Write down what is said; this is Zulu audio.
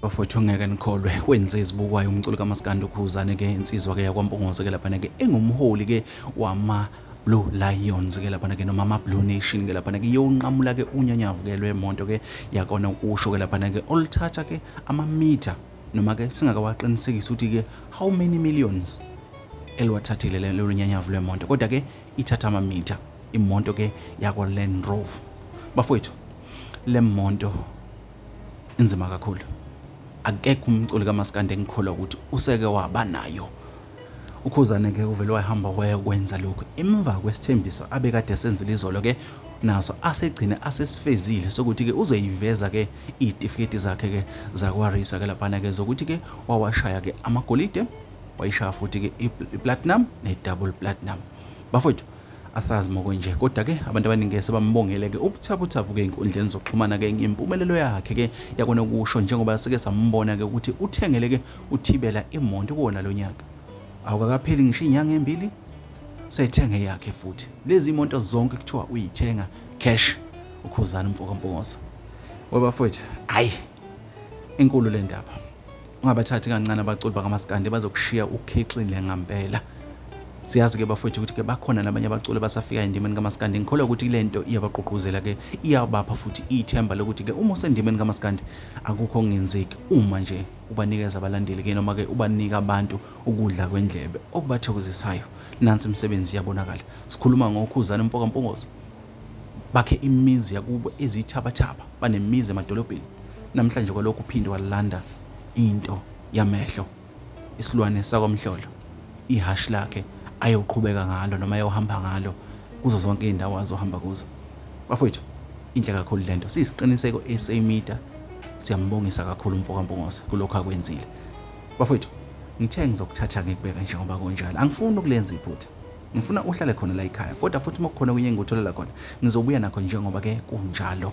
bafowethu ngeke nikholwe wenze izibukwayo umculo kamaskandi ukhuzane ke insizwa ke yakwampongose ke laphana ke engumholi ke wama Blue Lions ke laphana ke noma ama Blue Nation ke laphana ke yonqamula ke unyanyavu ke lwemonto ke yakona ukusho ke laphana ke oluthatha ke ama meter noma ke singakawaqinisekisi ukuthi ke how many millions eliwathathile lelo nyanyavu lwemonto kodwa ke ithatha amamitha imonto ke yakwa Land Rover bafowethu Le monto inzima kakhulu. Akekho umculi kamaskandi engikholwa ukuthi useke waba nayo. Ukhuzane ke uvele wahamba wayokwenza lokhu emva kwesithembiso abekade esenzile izolo ke naso asegcine asesifezile sokuthi ke uzoyiveza ke izitifiketi zakhe ke zakwarisa ke laphana ke zokuthi ke wawashaya ke amagolide wayishaya futhi ke i-platinum ne-double platinum bafowethu asazi mokwenje kodwa ke abantu abaningi sebambongele ke ubuthaphuthaphu ke inkundleni zokuxhumana ke ngempumelelo yakhe ke yakona ukusho njengoba sike sambona ke ukuthi uthengele ke uthibela imonto kuwona lo nyaka awukakapheli ngisho inyanga embili seyithenge yakhe futhi lezi imonto zonke kuthiwa uyithenga cash ukhuzana umfoka mpongosa webafowethu hayi inkulu le ndaba ungabathathi kancane abaculi bakamaskandi bazokushiya ukhixile ngampela siyazi ke bafowethu ukuthi ke bakhona nabanye abaculi basafika endimeni kamaskandi ngikholwa ukuthi le nto iyabagqugquzela ke iyabapha futhi ithemba lokuthi ke uma usendimeni kamaskandi akukho okungenzeki uma nje ubanikeza abalandeli ke noma ke ubanika abantu ukudla kwendlebe okubathokozisayo nansi imisebenzi iyabonakala sikhuluma ngokhuzana mfoka mpungozi bakhe imizi yakubo ezithabathaba banemizi emadolobheni namhlanje kwalokhu uphinde walanda into yamehlo isilwane sakwamhlolo ihhashi lakhe ayoqhubeka ngalo noma ayohamba ngalo kuzo zonke iy'ndawo azohamba kuzo bafowethu inhle kakhulu le nto siyisiqiniseko esemida siyambongisa kakhulu umfokampungose kulokhu akwenzile bafowethu ngithe ngizokuthatha ngikubeka njengoba kunjalo angifuni ukulenza iphutha ngifuna uhlale khona la ekhaya kodwa futhi uma kukhona kunye engikutholela khona ngizobuya nakho njengoba ke kunjalo